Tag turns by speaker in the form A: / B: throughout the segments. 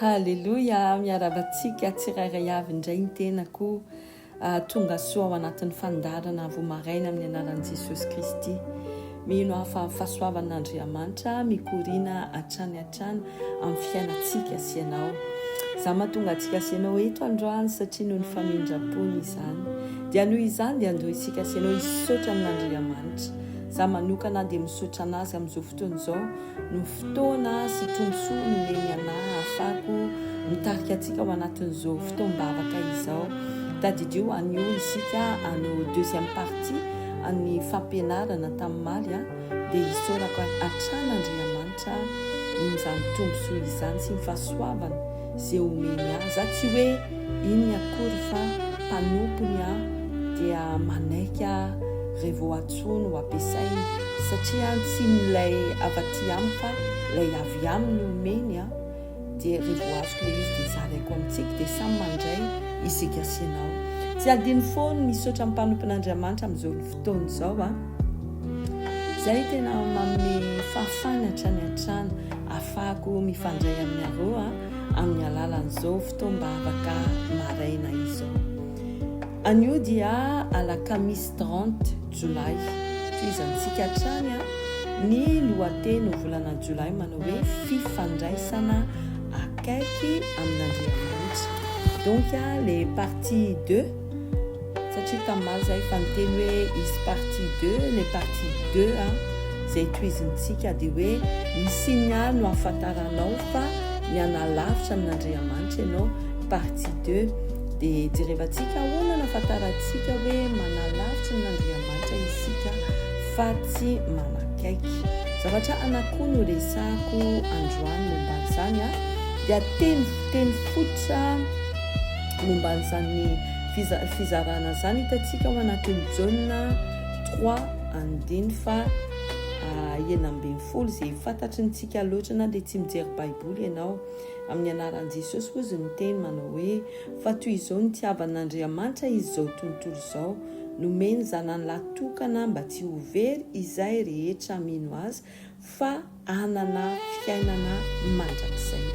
A: Haleloia, miaraba antsika tsirairay avy indray ny tenako. Ah, tonga soa ao anatin'ny fandaharana avo maraina amin'ny anaran'i Jesosy Kristy. Mino aho fa fahasoavan'Andriamanitra mikoriana hatrany hatrany amin'ny fiainantsika sy ianao. Izaho mahatonga antsika sy ianao eto androany satria noho ny famindram-pony izany. Dia noho izany dia andoha isika sy ianao hisaotra an'Andriamanitra. Izaho manokana dia misaotra an'Azy amin'izao fotoana izao. Ny fotoana sy tombontsoa nomen'i Allah ahafahako mitarika antsika ao anatin'izao fotoam-bavaka izao. Tadidio anio isika hanao deuxième partie an'ny fampianarana tamin'omaly a! dia isaorako hatrany Andriamanitra amin'izany tombontsoa izany sy ny fahasoavany. ze omeny ahy za tsy hoe iny akory fa mpanompony aho dia manaiky aho re vao atsoiny ho ampiasainy satria an tsy ny lay avy aty amiko fa lay avy aminy omeny an dia re vao azoko le izy dia zaraiko amintsika dia samy mandray isika sy ianao tsy adino foana misaotra ny mpanompon Andriamanitra amizao fotoana izao a! Izay tena manome fahafahana hatrany hatrany ahafahako mifandray aminareo amin'ny alalan'izao fotoam-bavaka maraina izao. Anio dia alakamisy 30 jolay, tohizantsika hatrany ny lohateny ho volana jolay manao hoe fifandraisana akaiky amin'Andriamanitra. Donc les parties 2 Satria tamaly zah efa niteny hoe hisy partie deux, ilay partie deux a zay tohizintsika dia hoe ny signal no ahafantaranao fa mianalavitra amin'Andriamanitra ianao, partie deux dia jerevantsika ahoana no ahafantarantsika hoe manalavitra an'Andriamanitra isika fa tsy manakaiky. Zavatra anakoa no resahako androany momban'izany a, dia teny teny fototra. momba an'izany fizarana izany hitantsika ao anatin'ny Jaona trois andiny fa enina ambin'ny folo izay fantatry ny tsika loatra na dia tsy mijery baiboly ianao amin'ny anaran'i Jesosy hozy ny teny manao hoe fa toy izao ny tiavan'Andriamanitra izy izao tontolo izao nomeny zanany lahy tokana mba tsy ho very izay rehetra mino azy fa hanana fiainana mandrakizay.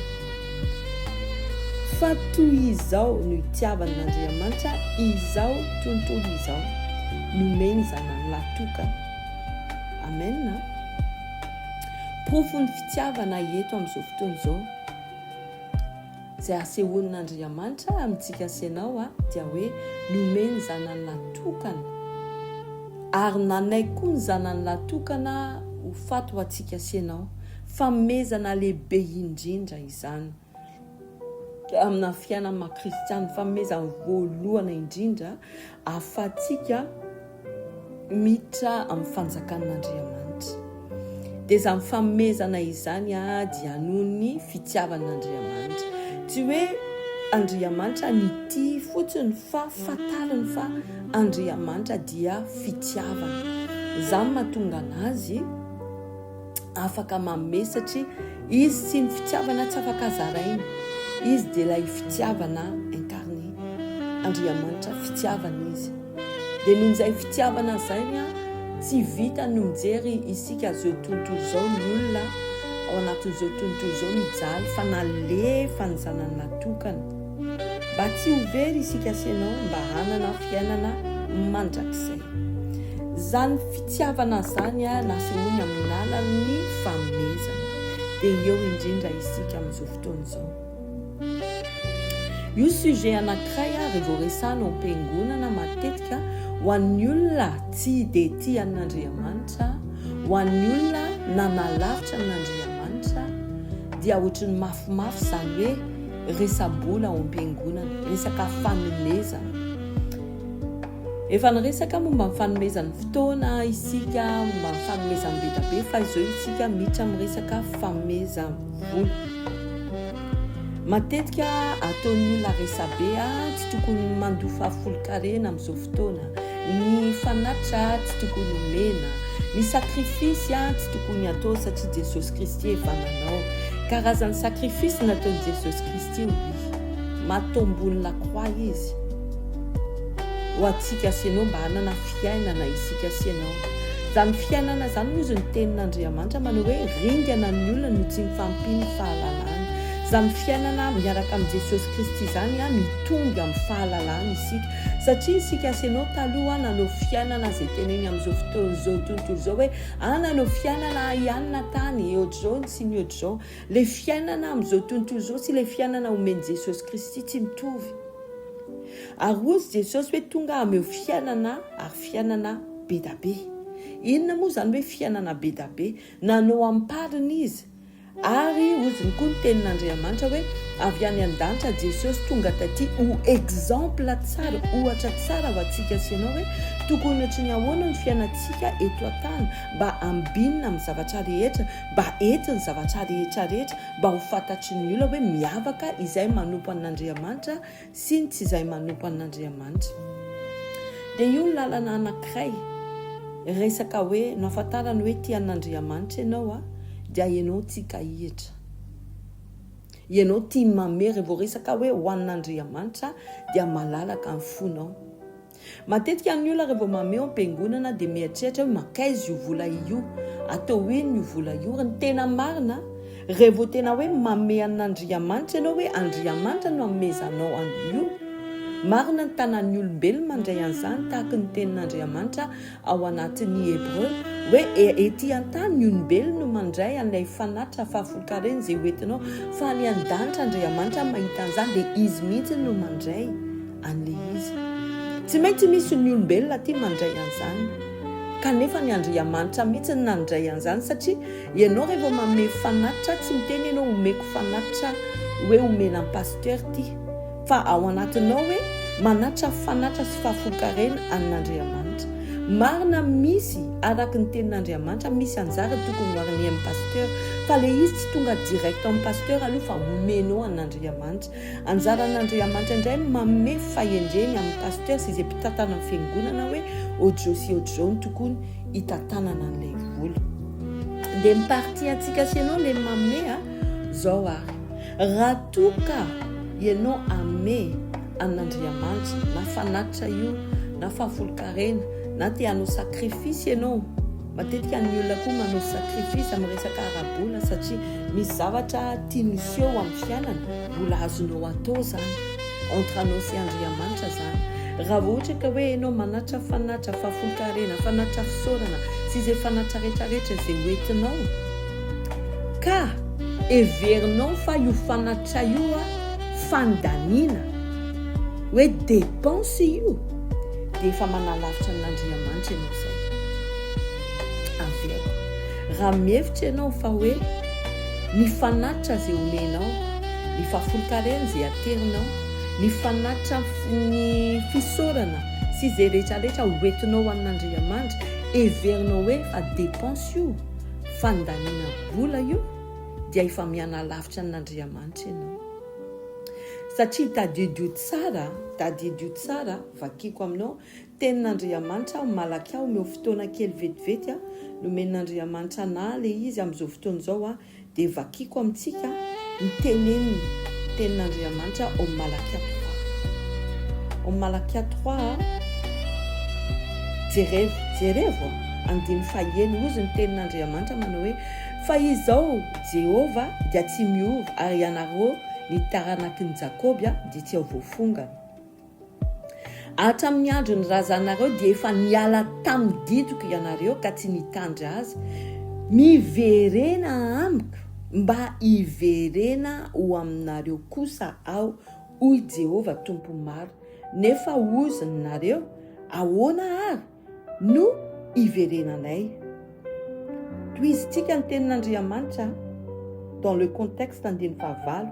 A: Fa toy izao no itiavan'Andriamanitra izao tontolo izao, nomeny Zanany lahy tokana. Amen a! Porofon'ny fitiavana eto amin'izao fotoana izao. Izay asehon' Andriamanitra amintsika sy ianao dia hoe nomeny Zanany lahy tokana, ary nanaiky koa ny Zanany lahy tokana ho faty ho antsika sy ianao. Fanomezana lehibe indrindra izany amina fiainana maha-kristiana, fanomezana voalohana indrindra ahafahantsika, miditra amin'ny fanjakan'Andriamanitra. Dia izany famomezana izany dia anon'ny fitiavan'Andriamanitra. Tsy hoe Andriamanitra nitia fotsiny fa fantariny fa Andriamanitra dia fitiavana. Izany mahatonga anazy afaka manome satria izy sy ny fitiavana tsy afaka zaraina. Izy dia ilay fitiavana incarné. Andriamanitra fitiavana izy. Dia noho izay fitiavana izay ny tsy vita ny mijery isika izao tontolo izao ny olona ao anatin'izao tontolo izao mijaly fa nalefa ny zanany natokana. Mba tsy ho very isika sy ianao mba hanana fiainana mandrakizay. Izany fitiavana izany nasehoany amin'ny lalan'ny fanomezana. Dia eo indrindra isika amin'izao fotoana izao. Io sujet anankiray ary vao resahina ao am-piangonana matetika ho an'ny olona tsy dia tia an'Andriamanitra, ho an'ny olona nanalavitra an'Andriamanitra dia ohatran'ny mafimafy izany hoe resa-bola ao am-piangonana, resaka fanomezana. Efa niresaka momba ny fanomezan'ny fotoana isika, momba ny fanomezan'ny be dia be, fa izao isika miditra amin'ny resaka famezam-bola. Matetika ataon'ny olona resabe, ah, tsy tokony mandoa fahafolonkarena amin'izao fotoana. Ny fanatitra tsy tokony omena. Ny sacrifice tsy tokony atao satria Jesosy Kristy efa nanao. Karazan'ny sacrifice nataon'i Jesosy Kristy io ry. Maty tao ambony la croix Izy. Ho antsika sy ianao mba hanana fiainana isika sy ianao. Izany fiainana izany hozy ny tenin'Andriamanitra manao hoe ringana ny olona no tsy mifampino fahalalana. Izany fiainana miaraka amin'i Jesosy Kristy izany mitombo amin'ny fahalalana isika. Satria isika Aseno taloha nanao fiainana izay teneniny amin'izao fotoana izao tontolo izao hoe ah nanao fiainana ahy ihany na tany ohatr'izao ny sy ny ohatr'izao. Ilay fiainana amin'izao tontolo izao sy ilay fiainana omen'i Jesosy Kristy tsy mitovy. Ary hozy Jesosy hoe tonga ameo fiainana ary fiainana bedabe. Inona moa izany hoe fiainana bedabe? Nanao ampariny izy. Ary oziny koa ny tenin'Andriamanitra hoe avy any an-danitra Jesosy tonga taty ho exemple tsara, ohatra tsara ho antsika sy ianao hoe tokony ohatry ny ahoana ny fiainantsika eto an-tany mba hambinina amin'ny zavatra rehetra, mba hety ny zavatra rehetra rehetra, mba ho fantatry ny olona hoe miavaka izay manompo an'Andriamanitra sy ny tsy izay manompo an'Andriamanitra. Dia io ny lalana anankiray, resaka hoe no ahafantarany hoe tia an'Andriamanitra ianao a, dia ianao tsy hikahihitra, ianao tia ny mamehy, raha vao resaka hoe ho an'Andriamanitra dia malalaka ny fonao. Matetika ny olona raha vao mameho am-piangonana dia mieritreritra hoe mankaiza io vola io, atao ino io vola io. Ary ny tena marina, raha vao tena hoe mamehy an'Andriamanitra ianao hoe Andriamanitra no anomezanao an'io, marina ny tanan'ny olombelona mandray an'izany tahaka ny tenin'Andriamanitra ao anatin'ny Hebreo hoe ety an-tany ny olombelona no mandray an'ilay fanatitra fahafolonkarena izay hoentinao fa any an-danitra Andriamanitra mahita an'izany dia izy mihitsy no mandray an'le izy. Tsy maintsy misy ny olombelona aty mandray an'zany. Kanefa ny Andriamanitra mihitsy no nandray an'zany satria ianao revo manome fanatitra tsy miteny ianao omeko fanatitra hoe omena an'i Pasteur ty fa ao anatinao hoe manatitra fanatitra sy fahafolonkarena an'Andriamanitra. Marina misy araky ny tenin'Andriamanitra misy anjara tokony ho arin'ny Pasteur fa le izy tsy tonga direct amin'ny Pasteur aloha fa omenao an'Andriamanitra. Anjaran'Andriamanitra indray ny manome fahendreny amin'ny pasteur sy izay mpitantana ny fiangonana hoe ohatr'izao sy ohatr'izao no tokony hitantanana an'ilay vola. Dia ny partie antsika sy ianao ilay manome a! Izao ary, raha toa ka ianao hanome an'Andriamanitra na fanatitra io na fahafolonkarena na te hanao sacrifice ianao, Matetika ny olona koa manao sacrifice amin'ny resaka ara-bola satria misy zavatra tiany hiseho amin'ny fiainany, mbola azonao atao zany, entre anao sy Andriamanitra zany. Raha vao ohatra ka hoe enao manatra fanatra fahafolonkarena, fanatra fisaorana sy izay fanatra rehetra rehetra izay ho entinao, ka heverinao fa io fanatra io fandaniana, hoe dépense io, dia efa manalavitra an'Andriamanitra ianao izay. Averiko, raha mihevitra ianao fa hoe ny fanatitra izay omenao, ny fahafolonkarena izay aterinao, ny fanatitra ny fisaorana sy izay rehetra rehetra hoentinao ho an'Andriamanitra, heverinao hoe efa dépense io, fandaniana vola io, dia efa mianalavitra an'Andriamanitra ianao. Satria tadidio tsara, tadidio tsara, Vakiko aminao, tenin'Andriamanitra aho, malaky aho omeo fotoana kely vetivety a, nomen'Andriamanitra anah le izy amin'izao fotoana izao a, dia vakiko amintsika ny teneniny, tenin'Andriamanitra ao Malakia trois, ao Malakia trois a, jerevo, jerevo a, andininy fahaenina, hozy ny tenin'Andriamanitra manao hoe, fa izao Jehovah dia tsy miova, ary ianareo ny taranakin'i Jakoby a, dia tsy ao voafongana. Hatramin'ny andron'ny razanareo dia efa niala tamin'ny didiko ianareo ka tsy nitandry azy, miverena amiko mba hiverena ho aminareo kosa aho, hoy Jehovah Tompo Maro. Nefa hozy ny nareo, Ahoana àry? no iverenanay. Tohizintsika ny tenin'Andriamanitra dans le contexte andininy fahavalo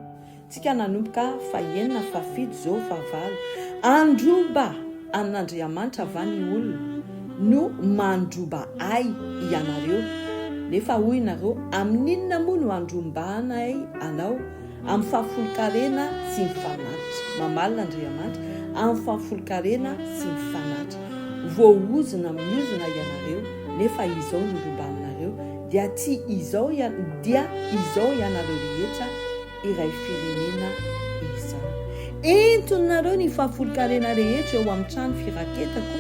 A: tsika nanomboka fahenina fahafito zao fahavalo androba an'Andriamanitra va ny olona no mandroba ay ianareo nefa hoy nareo amin'inona moa no andrombahanay anao Amin'ny fahafolonkarena sy ny fanatitra. Mamaly Andriamanitra amin'ny fahafolonkarena sy ny fanatitra. Voaozona amin'ny ozona ianareo, nefa izao no rymba aminareo, dia tsy izao dia izao ianareo rehetra iray firenena izao. Entinareo ny fahafolonkarena rehetra eo amin'ny trano firaketako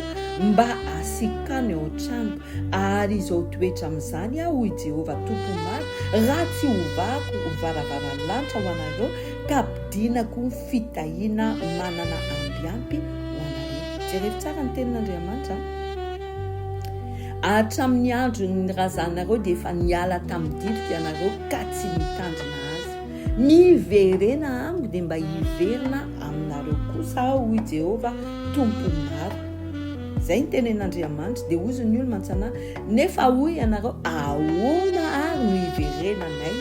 A: mba asiako tany ao an-trano. Ary izao toetra amin'izany aho, hoy Jehovah Tompo Maro, raha tsy hovahako ho varavaran-lanitra ho anareo ka ampidinako fitahiana manana ambiampy ho anareo. Jerevo tsara ny tenin'Andriamanitra a! Hatramin'ny andron'ny razanareo dia efa niala tamin'ny didiko ianareo ka tsy nitandrina azy. Miverena amiko dia mba hiverina aminareo kosa aho, hoy Jehovah Tompo Maro. Izay ny tenen'Andriamanitra, dia hozy ny olona an-tsanahy, nefa hoy ianareo, Ahoana ary no hiverenanay?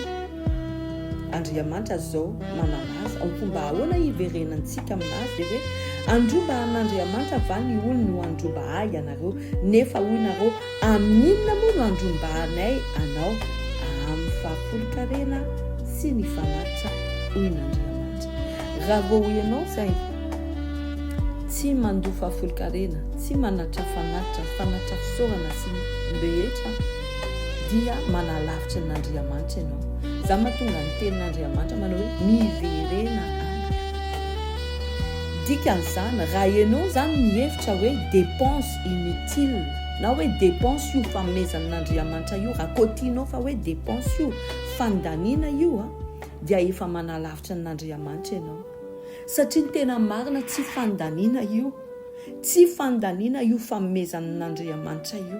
A: Andriamanitra izao manana azy, ao koa mba ahoana hiverenantsika amin'azy? Dia hoe, Handroba an'Andriamanitra va ny olony ho handroba ahy ianareo? Nefa hoy nareo, Amin'ny inona moa no andrombahanay anao? Amin'ny fahafolon-karena sy ny fanatitra, hoy Andriamanitra. Raha vao hoy ianao izay, tsy mandoa fahafolon-karena, tsy manatitra fanatitra, ny fanatitra fisaorana sy ny rehetra, dia manalavitra an'Andriamanitra ianao. Izany mahatonga ny tenin'Andriamanitra manao hoe, Miverena amiko. Dikan'izany, raha ianao izany mihevitra hoe dépense, inutile na hoe depense io fanomezana an'Andriamanitra io raha koa tianao fa hoe depense io fandaniana io a dia efa manalavitra an'Andriamanitra ianao satria ny tena marina tsy fandaniana io tsy fandaniana io fanomezana an'Andriamanitra io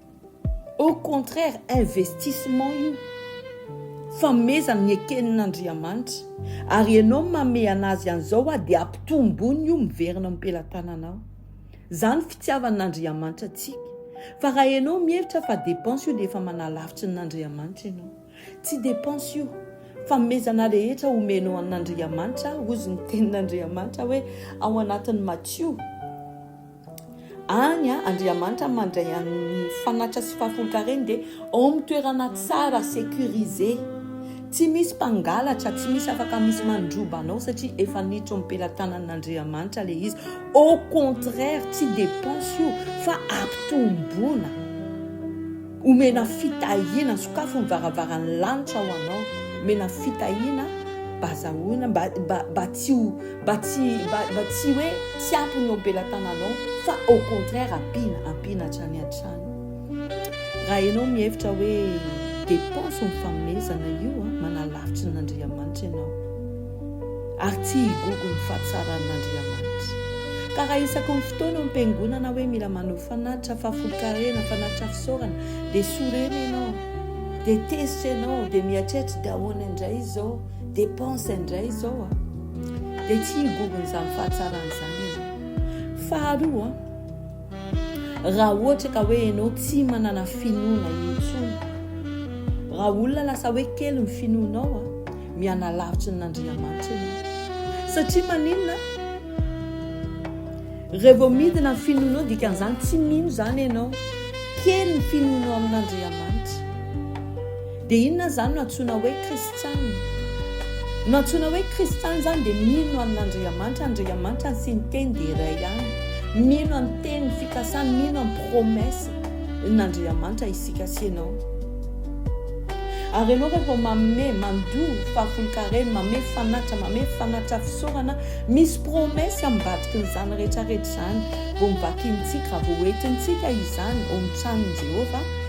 A: Au contraire investissement io, famezana ny ekenina Andriamanitra ary enao mame anazy anzao hoa dia ampitombony io miverina am pelatananao. Zany fitiavan Andriamanitra atsika. Fa raha enao mihevitra fa depense io dia efa manalavitry ny Andriamanitra enao. Tsy depense io, famezana rehetra omenao an Andriamanitra hozy ny tenin Andriamanitra hoe ao anatin Matio. Any a, Andriamanitra mandray an'ny fanatitra sy fahafolonkareny dia ao amin'ny toerana tsara, securisé. Tsy misy mpangalatra, tsy misy afaka misy mandroba anao satria efa niditra ao am-pelatanan'Andriamanitra ilay izy. Au contraire, tsy dépense io fa ampitomboana. Omena fitahiana, sokafy ny varavaran'ny lanitra ho anao, omena fitahiana, bazahoina mba mba mba tsy ho mba tsy mba mba tsy hoe tsy ampy ny eo am-pelatananao fa au contraire ampiana ampiana hatrany hatrany. Raha ianao mihevitra hoe dépense ny fanomezana io a, manalavitry ny Andriamanitra ianao. Ary tsy higogo ny fahatsaran'Andriamanitra. Ka raha isaky ny fotoana eo am-piangonana hoe mila maneho fanatitra, fahafolonkarena, fanatitra fisaorana, dia sorena ianao, dia tezitra ianao, dia mieritreritra, dia ahoana indray izao, dépense indray izao a. Dia tsy higogo an'izany fahatsarana izany ianao. Faharoa, Raha ohatra ka hoe ianao tsy manana finoana intsony, raha olona lasa hoe kely ny finoanao a, mianalavitra ny Andriamanitra ianao. Satria maninona? Raha vao midina ny finoanao, dikan'izany tsy mino izany ianao. Kely ny finoanao amin'Andriamanitra. Dia inona izany no antsoina hoe kristiana? No antsoina hoe kristiana izany dia mino an'Andriamanitra, Andriamanitra sy ny teny dia iray ihany, mino amin'ny teniny, fikasany, mino amin'ny promesse n'Andriamanitra isika sy ianao. Ary ianao rehefa manome, mandoa fahafolonkarena, manome fanatitra, manome fanatitra fisaorana, misy promesse ambadiky an'izany rehetra rehetra izany, vao novakiantsika, vao hoentintsika izany ao amin'ny tranon'i Jehovah,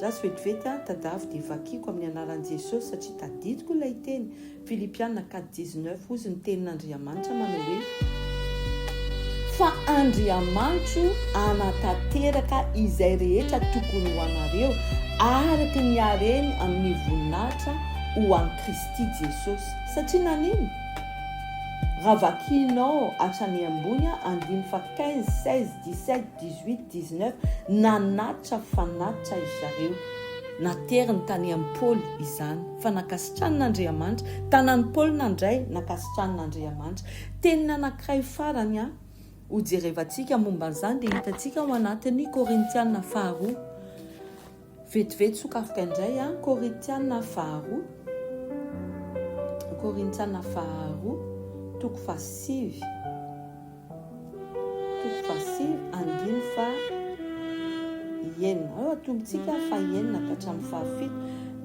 A: Jasy vetivety aho tadavy dia vakiko amin'ny anaran'i Jesosy satria tadidiko ilay teny, Filipiana quatre dix neuf hozy ny tenin'Andriamanitra manao hoe, Fa Andriamanitro hanatanteraka izay rehetra tokony ho anareo araka ny hareny amin'ny voninahitra ho an'i Kristy Jesosy. Satria nanino? Raha vakianao hatrany ambony andininy faha quinze, seize, dix sept, 18, 19, Nanatitra fanatitra ry zareo. Nateriny tany amin'i Paoly izany fa nankasitranin'Andriamanitra. Tanan'i Paoly nandray, nankasitranin'Andriamanitra. Teniny anankiray farany an, hojerevantsika momba an'izany dia hitantsika ao anatin'ny Korintiana faharoa. Vetivety sokafoka indray an, Korintiana faharoa, Korintiana faharoa, toko fahasivy, toko fahasivy, andiny fahenina. Ao atombontsika fahenina ka hatramin'ny fahafito,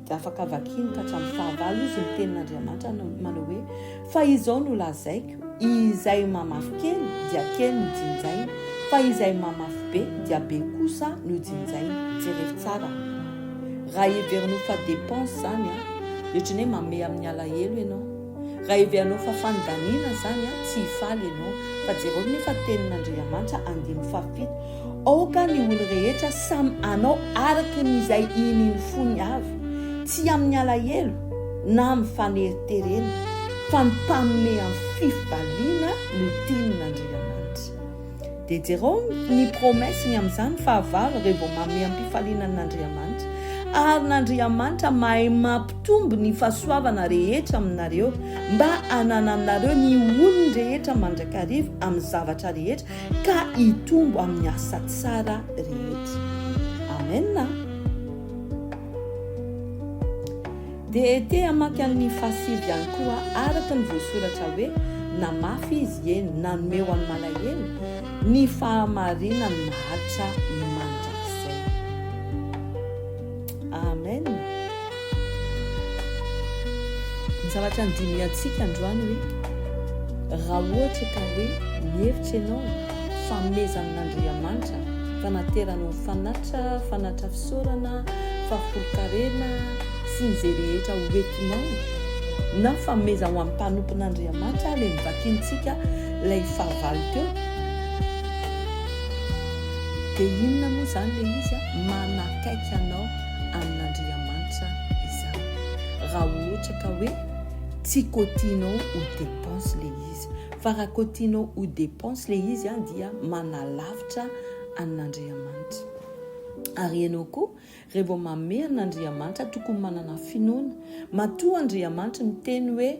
A: dia afaka vakiany ka hatramin'ny fahavalo izy ny tenin'Andriamanitra manao hoe, Fa izao no lazaiko, izay mamafy kely dia kely no jinjaina, fa izay mamafy be dia be kosa no jinjaina. Jereo tsara raha heverinao fa dépense zany an, ohatran'ny hoe mamehy amin'ny alahelo ianao. Raha heverinao fa fanidaniana zany an, tsy hifaly ianao. Fa jereo nefa tenin'Andriamanitra andininy fahafito, Aoka ny olo rehetra samy hanao araka ny izay inian'ny fony avy, tsy amin'ny alahelo na amin'ny faneriterena, fa ny mpanome amin'ny fifbaliana no tian' Andriamanitra. Dia jerao ny promesse ny amin'izany fahavalo rey vao mameha am-pifaliana an' Andriamanitra, ary n'Andriamanitra mahay mampitombo ny fahasoavana rehetra aminareo mba hanananareo ny olony rehetra mandrakariva amin'ny zavatra rehetra, ka hitombo amin'ny asa tsara rehetra. Amena. Dia te hamaky an'ny fahasivy ihany koa araka ny voasoratra hoe na mafy izy ie nanome ho an'i malahelo ny fahamarinan'ny mahatra mandrakizay. Amen! Ny zavatra andinihantsika androany hoe, raha ohatra ka hoe mihevitra ianao fa amezan'Andriamanitra fanaterana ho fanattra, fanattra fisaorana, fahafolonkarena sy ny ze rehetra ho entinao na fameza ho an'ny mpanompon'Andriamanitra le novakintsika lay fahavalo teo de inona moa zany le izy a? akaiky anao amin'Andriamanitra izaho. Raha ohatra ka hoe tsy kotianao ho depense le izy. Fa raha kotianao ho depense le izy an dia manalavitra an'Andriamanitra. Ary ianao koa re vao manome an'Andriamanitra tokony manana finoana. Matoa Andriamanitra miteny hoe.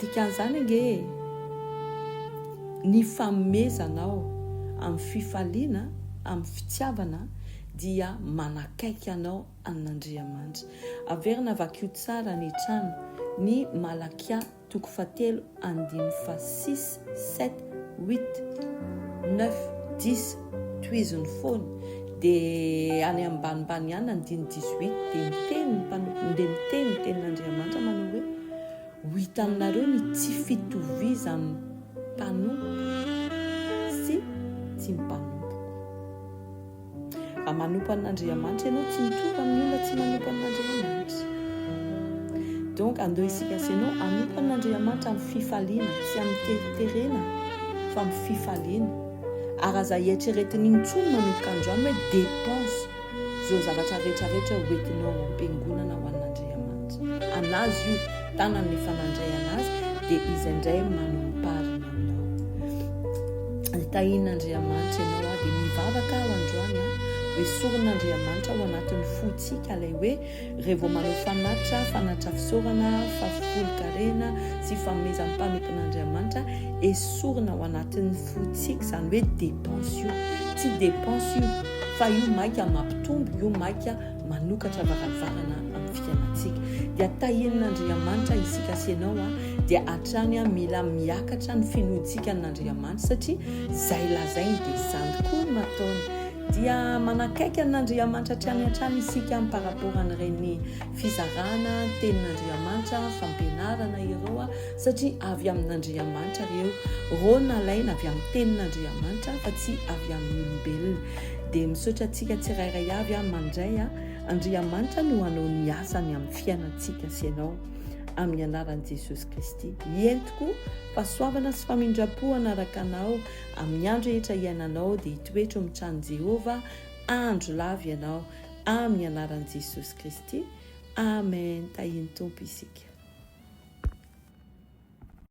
A: Dikan'izany ange e! Ny fanomezanao amin'ny fifaliana, amin'ny fitiavana dia manakaiky anao an'Andriamanitra. Averina vakio tsara any an-trano ny Malakia toko fahatelo andininy fahasisa. sept, huit, neuf, dix, tohizo ny fony dia any ambanimbany ihany andiny dix huit dia miteny dia miteny ny tenin'Andriamanitra manao hoe ho hitanareo ny tsy fitovizan'ny mpanompo sy tsy mpanompo Raha manompo an'Andriamanitra ianao, tsy mitovy amin'ny olona tsy manompo an'Andriamanitra. Donc andao isika sy ianao hanompo an'Andriamanitra amin'ny fifaliana, tsy amin'ny teriterena, fa amin'ny fifaliana. Ary aza hieritreretina intsony manomboka androany hoe dépense izao zavatra rehetra rehetra hoentinao ampiangonana ho an'Andriamanitra. An'azy io. tanany ny fanandray anazy dia izay indray manomparina aminao ny tahin'Andriamanitra ianao ah dia mivavaka aho androany ah hoe soron'Andriamanitra ao anatin'ny fotsika ilay hoe rehevo vao manao fanatra fanatra fisaorana fafolonkarena sy famezan'ny mpanompon'Andriamanitra esorina ao anatin'ny fotsika izany hoe dépense io tsy dépense io fa io maika mampitombo io maika manokatra varavarana amin'ny fiainantsika dia tahian'Andriamanitra isika sy ianao a dia hatrany a mila miakatra ny finoantsika an'Andriamanitra satria zay lazainy dia zany koa no ataony dia manakaiky an'Andriamanitra hatrany hatrany isika am par rapport an'ireny fizarana tenin'Andriamanitra fampianarana ireo a satria avy amin'Andriamanitra ireo reo nalaina avy amin'ny tenin'Andriamanitra fa tsy avy amin'ny olombelona dia misaotra antsika tsirairay avy aho mandray a Andriamanitra no hanao ny asany amin'ny fiainantsika sy ianao amin'ny anaran'i Jesosy Kristy hientiko fahasoavana sy famindram-po hanaraka anao amin'ny andro rehetra hiainanao dia hitoetro amin'ny tranon'i Jehovah andro lava ianao amin'ny anaran'i Jesosy Kristy Amen tahian'ny Tompo isika